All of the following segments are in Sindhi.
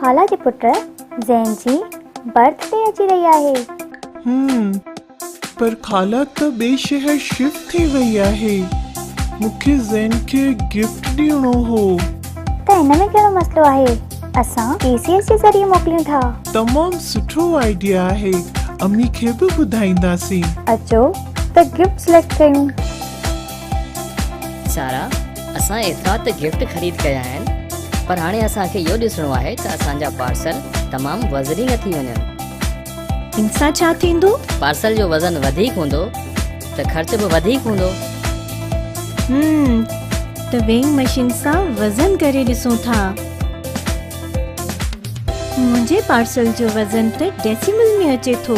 خالا جي پٽ زين جي برٿ ڊي اچي رهي آهي. هم پر خالا ته ٻئي شهر شفٽ ٿي وئي آهي. مون کي زين کي گفٽ ڏيڻو هو. ته ان ۾ ڪهڙو مسئلو آهي. اسان ٽي سي ايس جي ذريعي موڪليون ٿا. تمام سٺو آئيڊيا آهي. امي کي به ٻڌائينداسين. اچو ته گفٽ سليڪٽ ڪيون. سارا، اسان ايترا ته گفٽ خريد ڪيا آهن پر هاڻي اسان کي اهو ڏسڻو آهي ته اسان جا پارسل تمام وزني نه ٿي وڃن. ان سان ڇا ٿيندو؟ پارسل جو وزن وڌيڪ هوندو ته خرچ به وڌيڪ هوندو. هم ته ويئنگ مشين سان وزن ڪري ڏسون ٿا. منهنجي پارسل جو وزن ته ڊيسيمل ۾ اچي ٿو.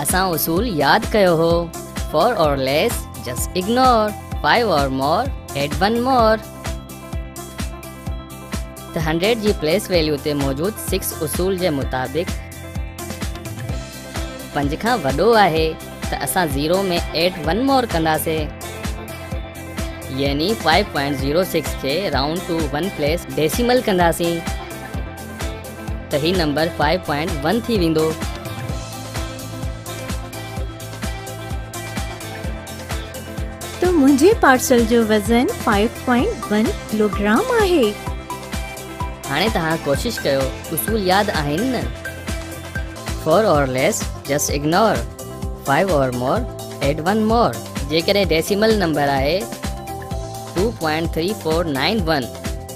اسان اصول ياد ڪيو هو For or less just ignore Five or more add one more ته هنڊريڊ جي پليس ويليو تي موجود سڪس اصول جي مطابق پنج کان وڏو آهي ته اسان زيرو ۾ ايٽ ون مور ڪنداسين يعني 5.06 کي round to one place decimal ڪنداسين ته هي نمبر فائيو پوائنٽ ون ٿي ويندو. ته منهنجي پارسل جو وزن فائيو پوائنٽ ون ڪلوگرام آهي. هاڻي توهان ڪوشش ڪيو اصول ياد آهن نه. Four or less just ignore five or more add one more. جيڪڏهن ڊيسيمل نمبر آهي two point three four nine one.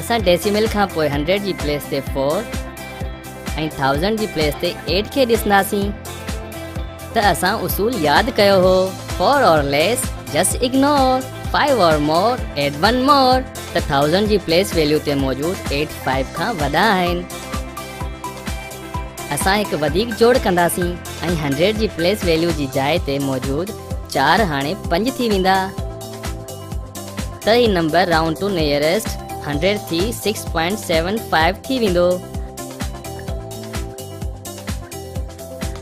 اسان ڊيسيمل کان پوء هنڊريڊ جي پليس تي فور ۽ ٿائوزنڊ جي پليس تي ايٽ کي ڏسنداسين ته اسان اصول ياد ڪيو هو four or less just ignore five or more add one more ته ٿائوزنڊ جي پليس ويليو تي موجود ايٽ فائيو کان وڏا آهن اسان هڪ وڌيڪ جوڙ ڪنداسين ۽ هنڊريڊ جي پليس ويليو جي جاء تي موجود چار هاڻي پنج ٿي ويندا ته هي number round to nearest hundred ٿي سڪس پوائنٽ سيون فائيو ٿي ويندو.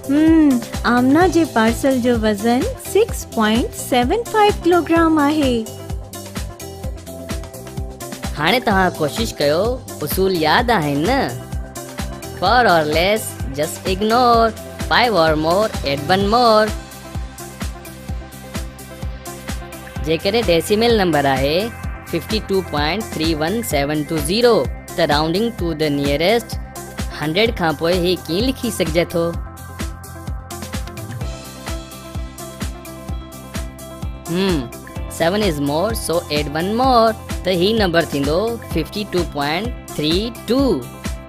هم آمنه جي پارسل جو وزن six point seven five kilogram آهي. هاڻي توهان ڪوشش ڪيو اصول ياد آهن نه four or less just ignore five or more add one more جيڪڏهن ڊيسيمل نمبر آهي fifty two point three one seven two zero ته rounding to the nearest hundred کانپوء هي ڪيئن لکي سگهجي ٿو؟ Hmm seven is more so add one more ته هي نمبر ٿيندو fifty two point three two